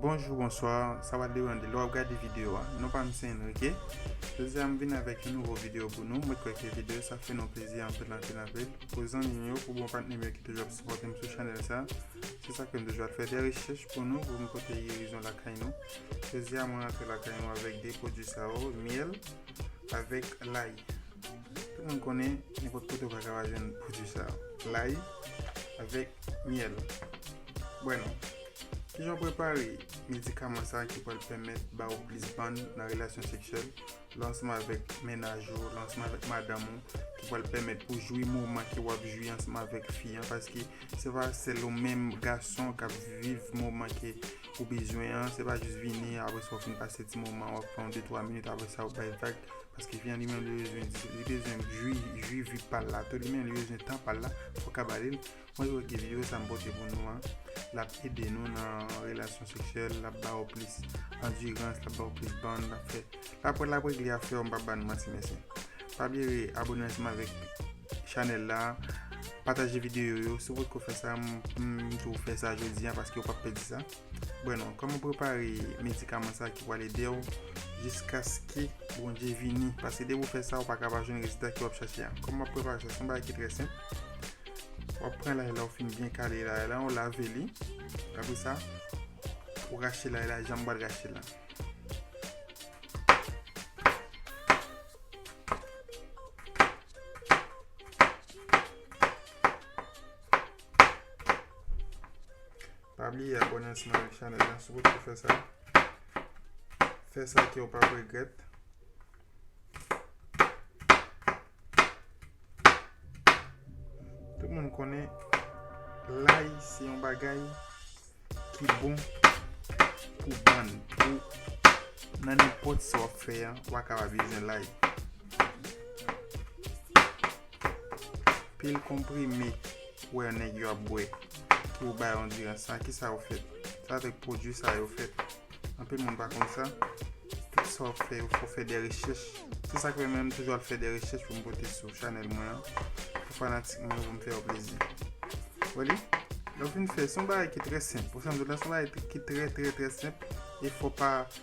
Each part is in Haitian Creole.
Bonjou bonswa, sa va devan de lè wap gade videyo a Non pa m se Enrique Jodi a m vin avèk yon nouvo videyo pou nou Mwen kwè ke videyo sa fè nou plezi anpil anpil anpil Pou zanmi m yo, pou bon patnè m yo ki toujou ap sipòte m sou chanèl sa Se sa fè m toujou ap fè de rechèch pou nou Pou m pote gerizon lakay nou Jodi a mwen rantre lakay nou avèk de pwodui sa yo Myèl avèk layi Tout moun konnen nenpòt kote ou pa ka pa jwenn pwodui sa yo. Layi avèk myèl. Bwè non. Kijan ou prepare medikaman sa ki pral pèmèt ba ou plis bann nan relasyon seksyèl lè ansanm avèk mennaj ou, lè ansanm avèk madanm ou ki pral pèmèt pou jwi moman ke wap jwi ansanm avèk fi an paske se pa sèl ou menm gason kap viv moman ke ou bezwen an, se pa jis vini apre sa ou fin pase ti moman wap pran yon de twa minit apre sa ou bay vag. Paske fi an li menm li bezwen li bezwen jwi jwi vi pal la tou li menm li bezwen tan pal la fò ka ba lil mwen jwe ki video sa m pote pou nou an lap ede nou nan relasyon seksyèl lap ba ou plis andirans lap ba ou plis ban lap fè lap lap regle afè ou m pap ba nou manti mesye pa bliye re abone ansanm avèk chanèl la pataje video yo si ou potko fè sa m m di w fè sa jodi an paske ou pap pèdi sa. Bueno, koman prepare medikaman sa ki pral ede w jiskaske Bondye vini? Paske depi ou fè sa, ou pa ka pa jwenn rezilta ke w ap chache a. Koman w ap prepare sa? Se yon bagay ki trè senp. Ou ap pran lay la, ou fin byen kale lay la, ou lave li. Apre sa, ou rache lay la jan m pral rache l la. Pa bliye abone ansanm avèk chanèl la si w potko fè sa. Fè sa ke w pap regrèt. Tout moun konnen lay se yon bagay ki bon pou bann. Pou nan nenpòt sa w ap fè an, w a kaba bezwen lay. Pil konprime ou wè nèg yo ap bwè ki ou bay andirans sa ki sa ou fèt? Se avèk pwodui sa yo fèt. Anpil moun pa konn sa. Tout sa wap fè yo fò fè de rechèch. Se sak fè menm toujou al fè de rechèch pou m pote sou chanèl mwen an. Pou fanatik mwen yo pou m fè yo plezi. Wè li? Lè ou fin fè se yon bagay ki trè senp. Ou santi la se yon bagay ki trè trè trè senp. E fò pa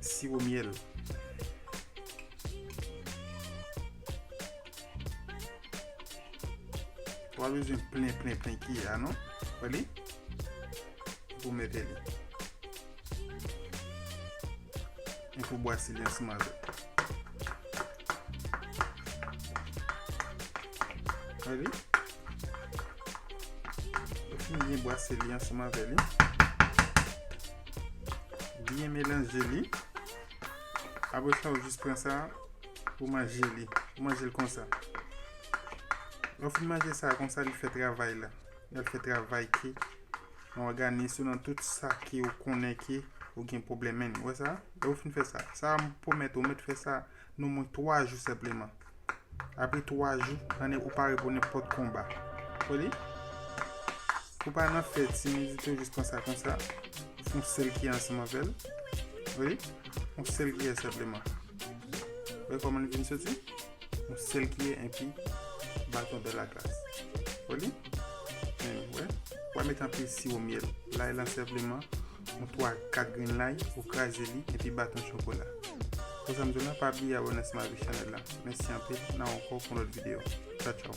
Siwo myèl. Ou pa bezwen plen plen plen kiyè a non. Wè li? Epi ou mete li. Epi ou bwase li ansanm avèk. Wèli Fin byen bwase li ansanm avè li Byen melanje li Apre sa ou jis pran sa Ou manje li Ou manje l konsa Lè ou fin manje sa konsa li fè travay la Lè l fè travay ki Yon òganis ou nan tout sa ki ou konnen ki Ou gen pwoblèm men Ou wè sa Lè ou fin fè sa, sa m pwomèt ou mèt fè sa non mwen 3 jou senpleman. Apre 3 jou, annik ou pare pou nenpòt konba. Ou li? Ou pa nan fè timidite ou jis pran sa konsa, ou fon sèl ki ansanm avè l. Ou li? On sèl kiyè senpleman. Ou wè kòman li vin soti? On sèl kiyè enpi baton de la glas. Ou li? Ou wè? Ou pa met anpil siwo myèl. Lay lan senpleman Yon 3 ak 4 grenn lay ou kraze li epi bat yon chokola. Konsa m di w la pa bliye abòne ansanm avèk chanèl la. Mèsi anpil, nan ankò pou yon lòt videyo. Tchawtchaw.